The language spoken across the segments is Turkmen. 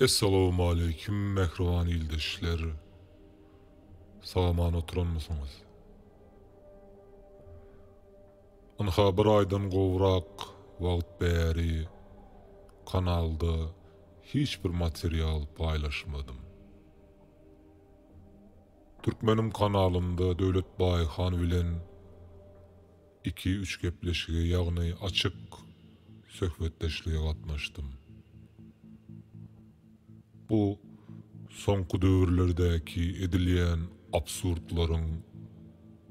Essalawmaleýkim mähriban ildeşler! Sagaman oturanmysyňyz? Ynha bir aýdan gowrak wagt bäri kanalda hiç bir material paýlaşmadym. Türkmeniň kanalynda Döwlet Baýhan bilen Iki, üç gepleşige, ýagny açyk söhbetdeşlige gatnaşdym. Bu soňky döwürlerdäki edilýän absurdlaryň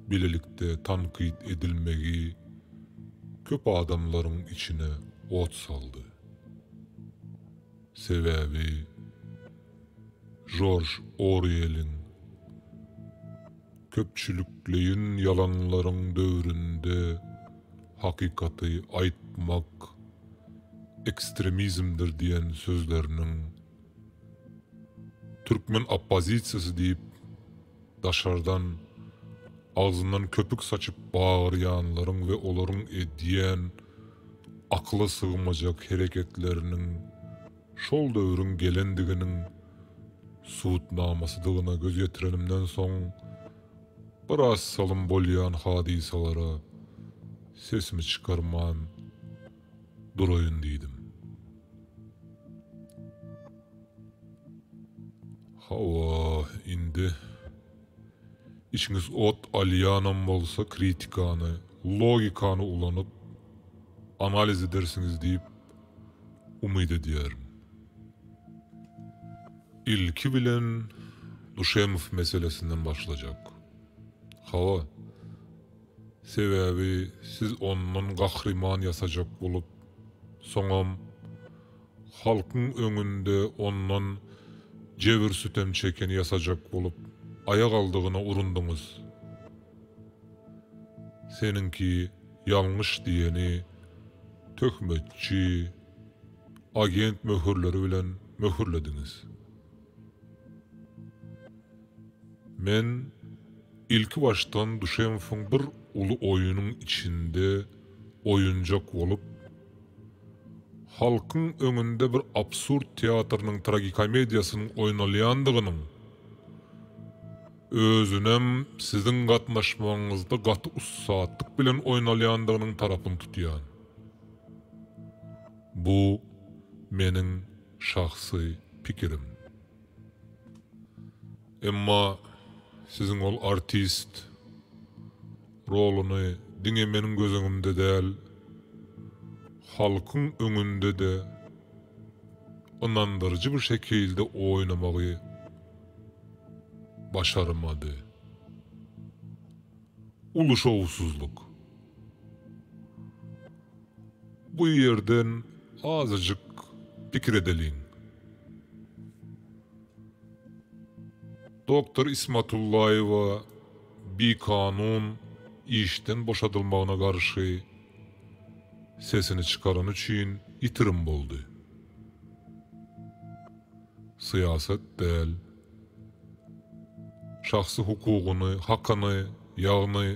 bilelikde tankyt edilmegi köp adamlaryň içine ot saldy. Sebäbi Jorj Orweliň Köpçülikleýin ýalanlaryň döwründe hakykaty aýtmak ekstremizmdir diýen sözleriniň türkmen oppozisiýasy diýip Daşardan, agzyndan köpük saçyp bagyrýanlaryň we olaryň edýän akyla sygmajak hereketleriniň şol döwrüň gelendiginiň subutnamasydygyna göz ýetirenimden soň, biraz salym bolýan hadysalara sesimi çykarman, duraýyn diýdim. Hawa, indi içiňiz ot alýanam bolsa kritikany, logikany ulanyp analiz edersiňiz diýip umyt edýärin. Ilki bilen Duşemow meselesinden başlajak. Hawa. Sebäbi siz ondan gahryman ýasajak bolup, soňam halkyň öňünde ondan jebir-sütem çekeni ýasajak bolup, aýak aldygyna urundyňyz. Seniňki ýalňyş diýeni töhmetçi, agent möhürleri bilen möhürlediňiz. Men ilkibaşdan Duşenfoň bir uly oýunyň içinde oýunjak bolup, halkyň öňünde bir absurd teatrynyň tragikomediýasynyň oýnalýandygynyň, özünem siziň gatnaşmagyňyzda gaty ussatlyk bilen oýnalýandygynyň tarapyny tutýan. Bu meniň şahsy pikirim. Emma siziň ol artist roluny diňe meniň göz öňümde däl, halkyň öňünde-de ynandyryjy bir şekilde oýnamagy başarmady. Uly şowsuzlyk. Bu ýerden azajyk pikir edeliň. Doktor Ismatullaýewa bikanun işden boşadylmagyna garşy sesini çykarany üçin ýitirim boldy. Syýasat däl. şahsy hukugyny, hakyny, ýagny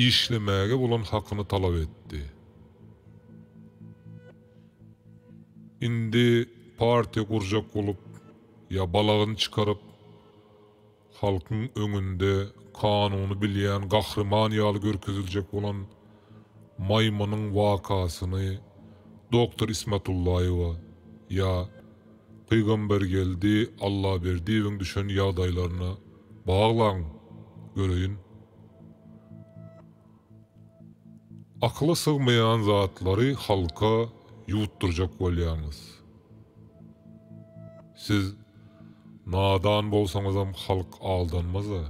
işlemäge bolan hakyny talap etdi. Indi partiýa gurjak bolup ýa balagyny çykaryp, halkyň öňünde kanuny bilýän gahryman ýaly görkeziljek bolan maýmynyň wakasyny doktor Ismatullaýewa ýa Pygambergeldi Allaberdiýewiň düşen ýagdaýlaryna baglaň göreýin. Akyla sygmaýan zatlary halka ýutdurjak bolýaňyz. Siz nadan bolsaňyzam halk aldanmaza.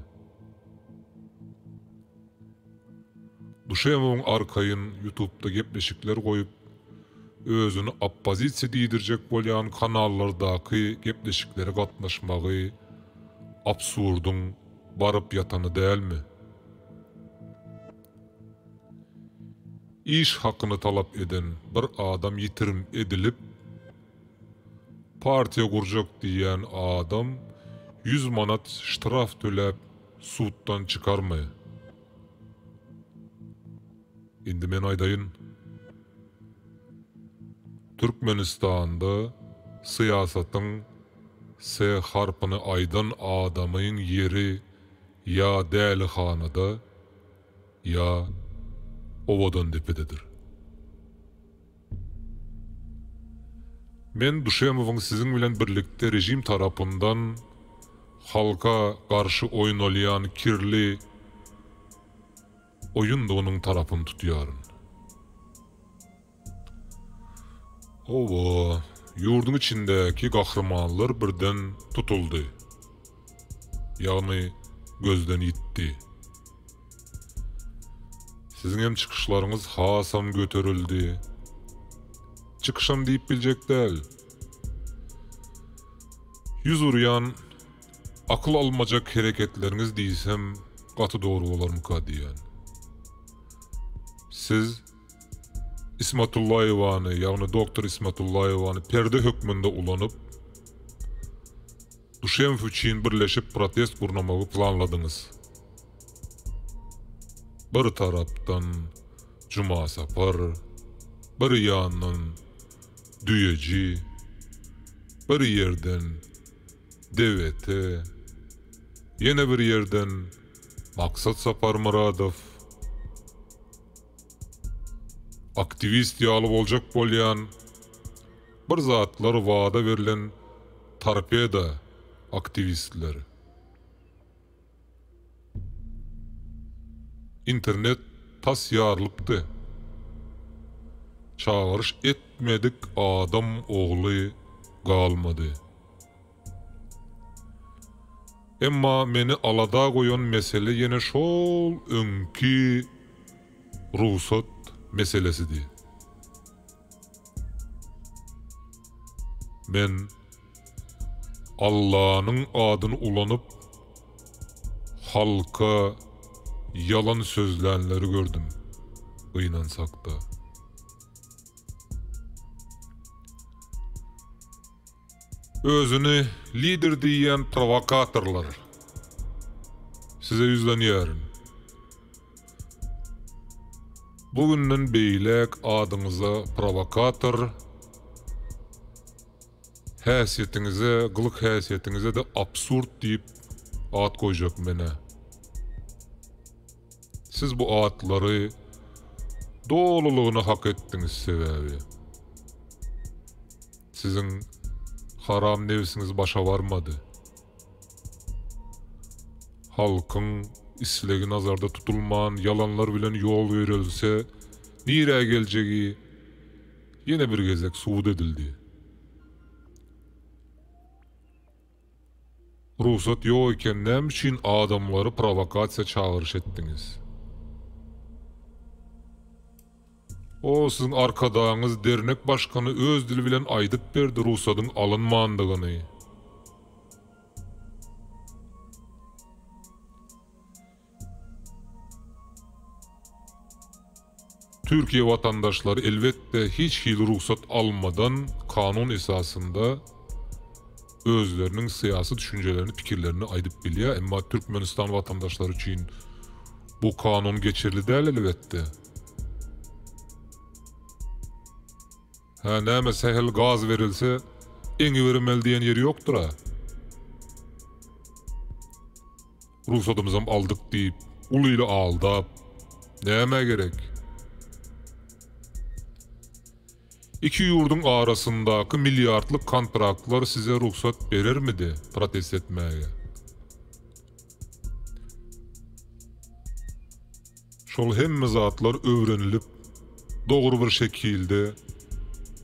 Duşemowyň arkaýyn ýutubda gepleşikler goýup, özüni oppozisiýa diýdirjek bolýan kanallardaky gepleşiklere gatnaşmagy absurdyň baryp ýatany dälmi? Iş hakyny talap eden bir adam ýitirim edilip, partiýa gurjak diýýän adam ýüz manat ştraf töläp Suddan çykarmy? Indi men aýdaýyn. Türkmenistanda syýasatyň S harpyny aýdan adamyň ýeri ýa dälihanada, ýa Owadandepededir. Men Duşemowyň siziň bilen birlikde režim tarapyndan halka garşy oýnalýan kirli oýundygynyň tarapyny tutýaryn. Hawa, ýurduň içindäki gahrymanlar birden tutuldy. Ýagny gözden ýitdi. Siziňem çykyşlaryňyz hasam göterildi. Çykyşam diýip biljek däl. Ýüz urýan akyl almajak hereketleriňiz diýsem gaty dogry bolarmyka diýýän. Siz Ismatullaýewany, ýagny doktor Ismatullaýewany perde hökmünde ulanyp, Duşenb üçin birleşip protest gurnamagy planladyňyz. Bir tarapdan Jumasapar, bir ýandan Düýeji, bir ýerden DWT, ýene bir ýerden Maksat Saparmyradow. Aktiwist ýaly boljak bolýan. Bir zatlar wada berlen torpeda aktiwistler. Internet tas ýarylypdy. Çagyryş etmedik adam ogly galmady. Emma meni alada goýan mesele ýene şol öňki rugsat meselesidi. Men Allanyň adyny ulanyp, halka ýalan sözlänleri gördüm, gynansak-da. Özüni lider diýýän prowokatorlar. Size ýüzlenýärin. Bu günden beýläk adyňyza prowokator, häsiýetiňize, gylyk-häsiýetiňize-de absurd diýip at goýjak menä. Siz bu atlary dolulygyna hak etdiňiz sebäbi. Siziň haram nebsiňiz başa barmady. Halkyň islegi nazarda tutulman ýalanlar bilen ýol ýöredilse nirä geljegi ýene bir gezek subut edildi. Rugsat ýok eken näme üçin adamlary prowakasiýa çagyryş etdiňiz. O siziň arkadagyňyz dernek başkany öz dili bilen aýdyp berdi rugsadyň alynmandygyny. Türkiýe watandaşlary elbetde hiç hili rugsat almadan kanun esasynda özleriniň syýasy düşünjelerini pikirlerini aýdyp bilýär emma Türkmenistan watandaşlary üçin bu kanun geçerli däl elbetde. Hä näme sähel gaz berilse eňi berimeli diýen ýeri ýokdyra. Rugsatymyzam aldyk diýip uly ili aldap nämä gerek. Iki ýurduň arasyndaky milliardlyk kontraktlar size rugsat berermidi protest etmäge. Şol hemme zatlar öwrenilip, dogry bir şekilde,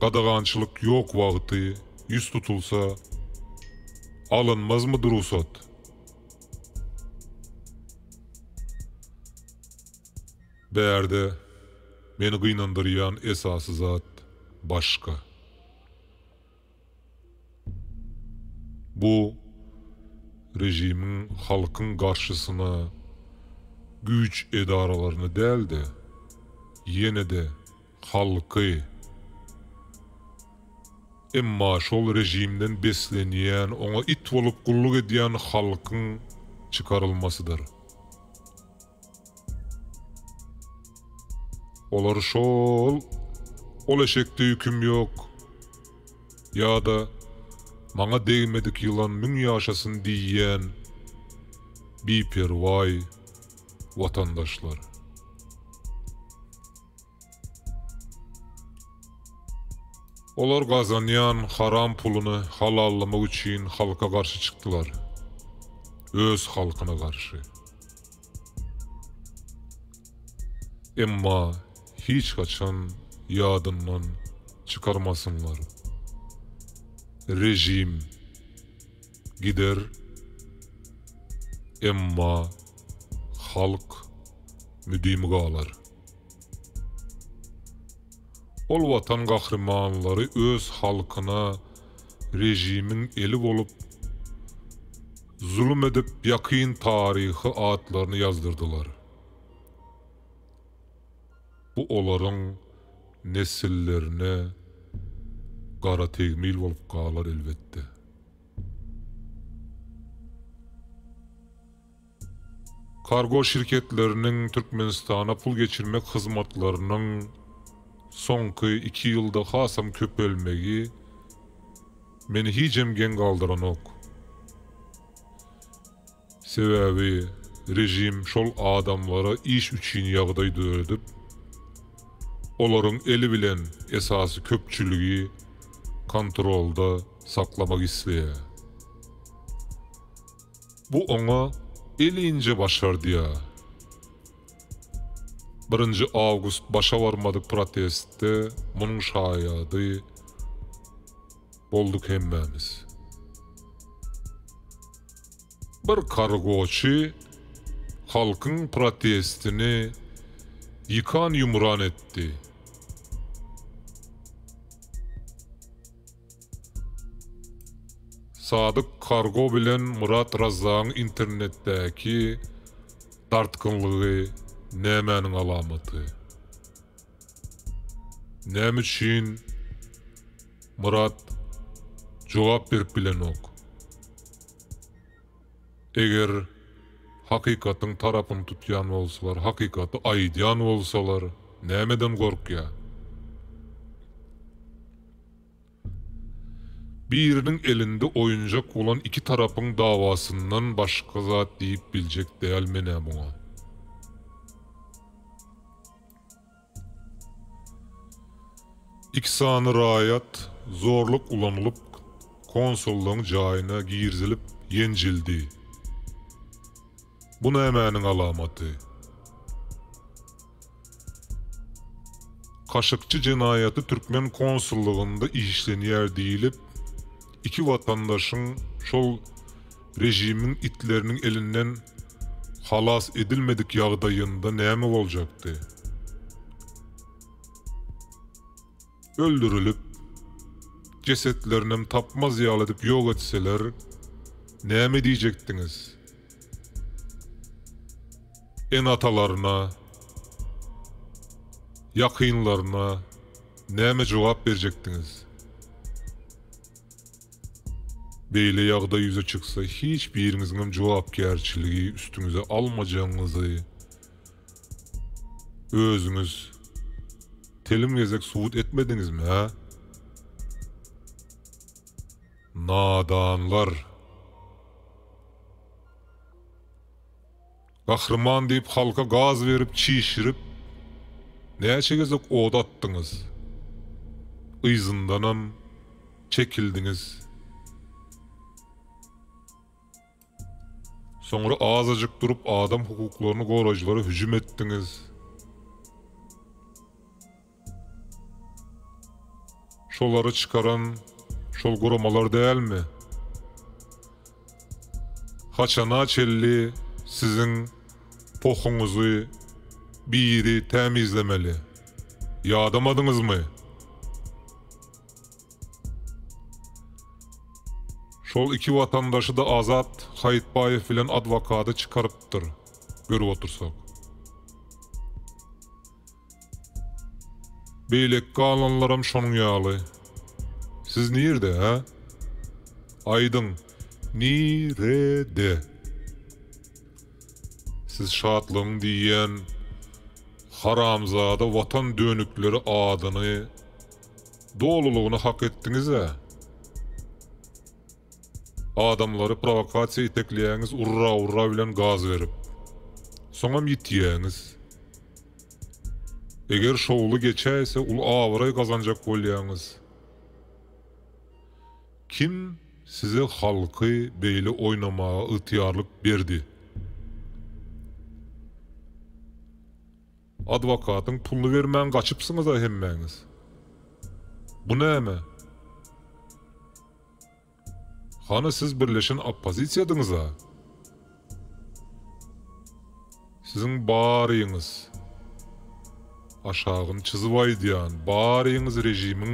gadagançylyk ýok wagty ýüz tutulsa, alynmazmydy rugsat? Bärde meni gynandyrýan esasy zat başga. Bu režimiň halkyň garşysyna güýç edaralaryny däl-de, ýene-de halky, emma şol režimden beslenýän, oňa it bolup gulluk edýän halkyň çykarylmasydyr. Olar şol, Ol eşekde ýüküm ýok! ýa-da Maňa degmedik ýylan müň ýaşasyn diýýän biperwaý watandaşlar. Olar gazanýan haram puluny halallamak üçin halka garşy çykdylar. Öz halkyna garşy. Emma hiç haçan ýadyndan çykarmasynlar. Režim gider, emma halk müdimi galar. Ol Watan gahrymanlary öz halkyna režimiň eli bolup, zulum edip ýakyn taryhy atlaryny ýazdyrdylar. Bu olaryň nesillerine gara tegmil bolup galar elbetde. Kargo şirketleriniň Türkmenistana pul geçirmek hyzmatlarynyň soňky iki ýylda hasam köpelmegi meni hijem geň galdyranok. Sebäbi režim şol adamlara iş üçin ýagdaý döredip, olaryň eli bilen esasy köpçüligi kontrolda saklamak isleýär. Bu oňa elinje başardýa. Birinji awgust başa barmady protestde munuň şaýady bolduk hemmämiz. Bir kargoçy halkyň protestini ýykan-ýumran etdi. Sadyk Kargo bilen Murat Razzagyň internetdäki dartgynlygy nämäniň alamaty? Näme üçin Murat jogap berip bilenok? Eger hakykatyň tarapyny tutýan bolsalar, hakykaty aýdýan bolsalar, nämeden gorkýar? Biriniň elinde oýunjak bolan iki tarapyň dawasyndan başga zat diýip biljek däl men-ä muňa. Iki sany raýat zorluk ulanylyp konsullygyň jaýyna girizilip ýenjildi. Bu nämäniň alamaty? Kaşykçy jenaýaty türkmen konsullygynda işlenýär diýlip, iki watandaşyň şol režimiň itleriniň elinden halas edilmedik ýagdaýynda näme boljakdy? öldürilip, jesetlerinem tapmaz ýaly edip ýok etseler, näme diýjekdiňiz? Ene-atalaryna, ýakynlaryna näme jogap berjekdiňiz? Beýle ýagdaý ýüze çyksa, hiç biriňiziňem jogapkärçiligi üstüňize almajagyňyzy, Özüňiz telim gezek subut etmediňizmi hä? Nadanlar. Gahryman diýip halka gaz berip çişirip näçe gezek oda atdyňyz. Yzyndanam çekildiňiz. Soňra azajyk durup adam hukuklaryny goraýjylara hüjüm etdiňiz. Şolary çykaran şol guramalar dälmi? Haçana çelli siziň pohuňyzy biri tämizlemeli? Ýadamadyňyzmy? Şol iki watandaşy-da Azat Haýytbaýew bilen adwokady çykarypdyr, görüp otursak. Beýleki galanlaram şonuň ýaly. Siz nirde, hä? Aýdyň, nirede? Siz Şatlygyň diýýän haramzada watan dönükleri adyny Dolulygyny hak etdiňizä. Adamlary prowokasiýa itekleýäňiz urra urra bilen gaz berip. Soňam ýitýäňiz. Eger şowly geçäýse uly abraý gazanjak bolýaňyz. Kim size halky beýle oýnamaga ygtyýarlyk berdi. Adwokatyň puluny bermän gaçypsyňyza hemmäňiz. Bu näme? Hany siz birleşen oppozisiýadyňyza? Siziň baryňyz, aşagyny çyzyp aýdýan, baryňyz režimiň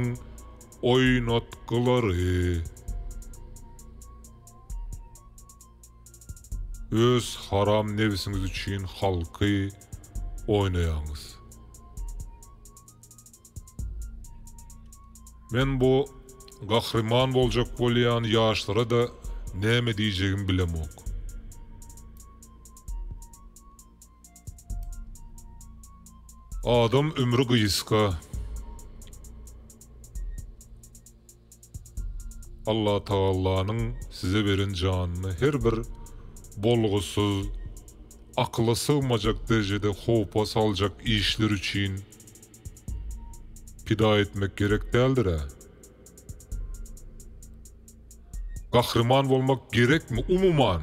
oýnatgylary. Öz haram nebisiňiz üçin halky oýnaýaňyz. Men bu gahryman boljak bolýan ýaşlara da näme diýjegimi bilemok. Adam ömri gysga. Allatagallanyň size beren janyny her bir bolgusyz, akyla sygmajak derejede howpa saljak işler üçin pida etmek gerek däldir-ä. Gahryman bolmak gerekmi umuman?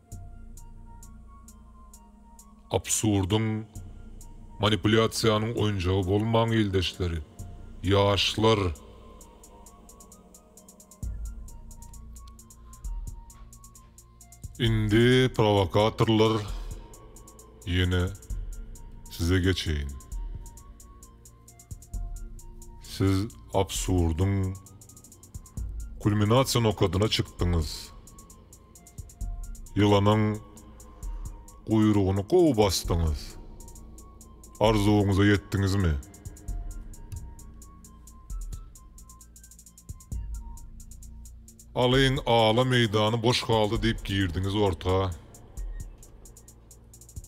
Absurdyň, manipulýasiýanyň oýunjagy bolmaň ildeşleri, ýaşlar! Indi prowokatorlar ýene size geçeýin. Siz absurdyň kulminasiýa nokadyna çykdyňyz. Ýylanyň guýrugyny gowy basdyňyz. Arzuwyňyza ýetdiňizmi? Alyň ala meýdany boş galdy diýip girdiňiz orta.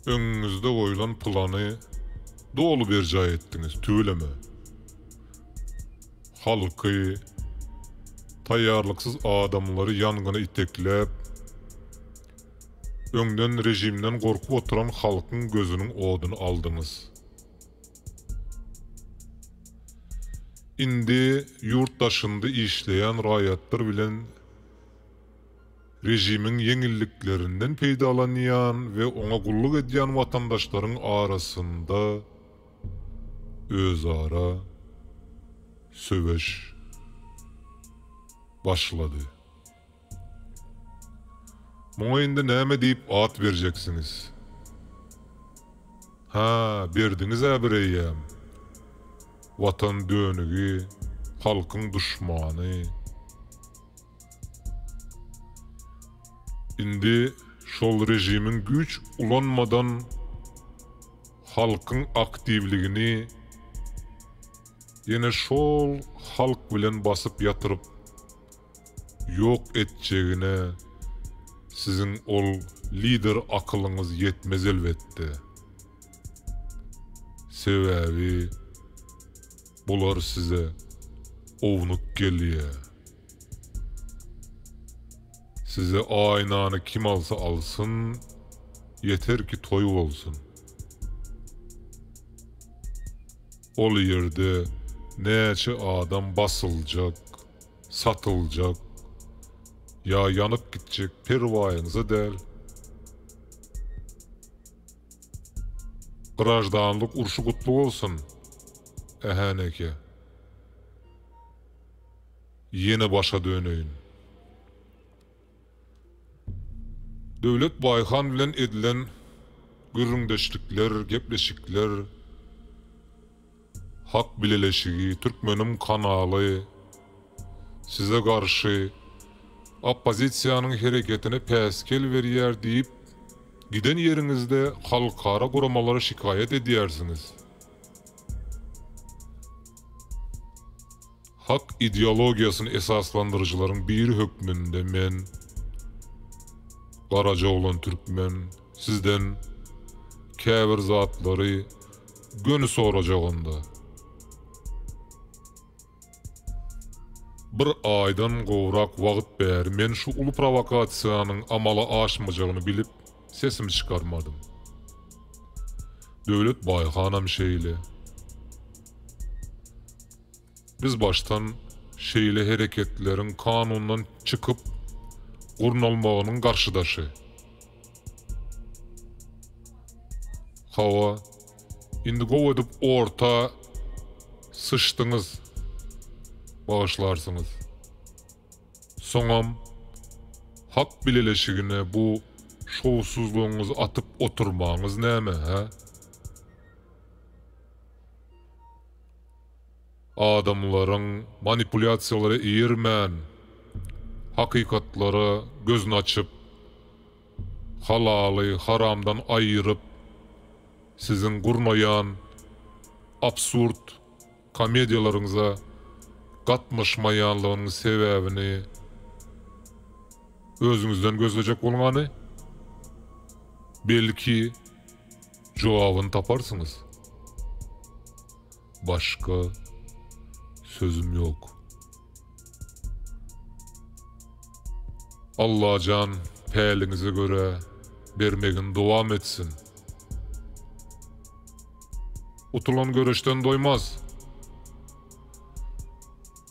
Öňüňizde goýlan plany doly berjaý etdiňiz, tüweleme. Halky, taýýarlyksyz adamlary ýangyna itekläp, öňden režimden gorkup oturan halkyň gözüniň oduny aldyňyz. Indi ýurt daşynda işleýän raýatlar bilen. Režimiň ýeňilliklerinden peýdalanýan we oňa gulluk edýän watandaşlaryň arasynda özara söweş başlady. Muňa indi näme diýip at berjeksiňiz? Hä, berdiňiz-ä bireýýäm. Watan dönügi, halkyň duşmany. Indi şol režimiň güýç ulanmadan halkyň aktiwligini ýene şol halk bilen basyp ýatyryp ýok etjegine siziň ol lider akylyňyz ýetmez elbetde. Sebäbi bular size ownuk gelýär. Size aýnany kim alsa alsyn, ýeter ki toý bolsun. Ol ýerde näçe adam basyljak, satyljak ýa ýanyp gitjek perwaýyňyza däl. Graždanlyk urşy gutly bolsun, Ähäneke! Ýene başa döneýin. Döwlet Baýhan bilen edilen gürrüňdeşlikler, gepleşikler, Hak bileleşigi, Türkmenim kanaly, size garşy oppozisiýanyň hereketine päsgel berýär diýip, giden ýeriňizde halkara guramalara şikaýat edýärsiňiz. Hak ideologiýasyny esaslandyryjylaryň biri hökmünde men, Garajaoglan Türkmen, sizden käbir zatlary göni sorajagynda. Bir aýdan gowrak wagt bäri men şu uly prowokasiýanyň amala aşmajagyny bilip, sesimi çykarmadym. Döwlet Baýhanam şeýle. Biz başdan şeýle hereketleriň kanundan çykyp gurnalmagynyň garşydaşy. Hawa, indi gowy edip orta syçdyňyz, bagyşlarsyňyz. Soňam Hak bileleşigine bu şowsuzlygyňyzy atyp oturmaňyz näme, hä? Adamlaryň manipulýasiýalara eýermän, hakykatlara gözüni açyp, halaly haramdan aýyryp, siziň gurnaýan absurd komediýalaryňyza gatnaşmaýanlygynyň sebäbini özüňizden gözlejek bolňany, belki, Jogabyny taparsyňyz. Başga sözüm ýok. Allajan päliňize görä bermegini dowam etsin. Utulan göreşden doýmaz.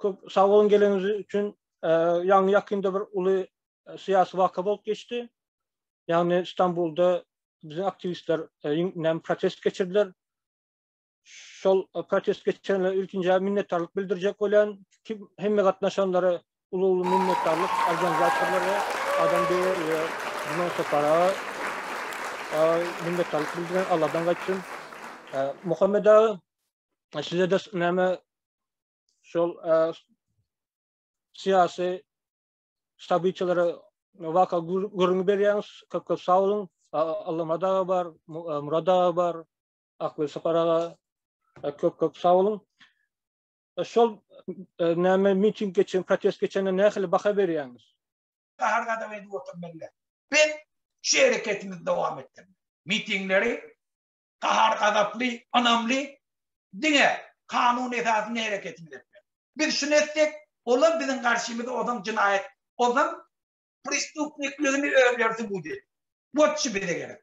Köp sag bolun geleniňiz üçin. Ýagny ýakynda bir uly syýasy waka bolup geçdi. Ýagny Stambulda biziň aktiwistler näme protest geçirdiler. Şol protest geçirenler ilkinji minnetdarlyk bildirjek bolýan. Kim hemme gatnaşanlara uly-uly minnetdarlyk organizatorlara, adam beýle Juman Sapara minnetdarlyk bildiren Allahdan gaýtsyn. Muhammed aga Size de näme şol syýasy ştabyçylary waka gürrüňi berýäňiz. Köp köp sag boluň. Allah madaga bar, Murada bar, Akbil Saparaga köp köp sag boluň. Şol näme miting geçen, protest geçende nähili baha berýäňiz? Gahar gadap edip oturmaly. Biz şu hereketimizi dowam etdirmeli. Mitingleri gahar-gazaply, ynamly, diňe kanun esasynda hereket etmek. Biz şuny etsek, olar biziň garşymyza ozan jenaýat, ozan prestupnikligini özleri subut edip. Botçi bize gerek.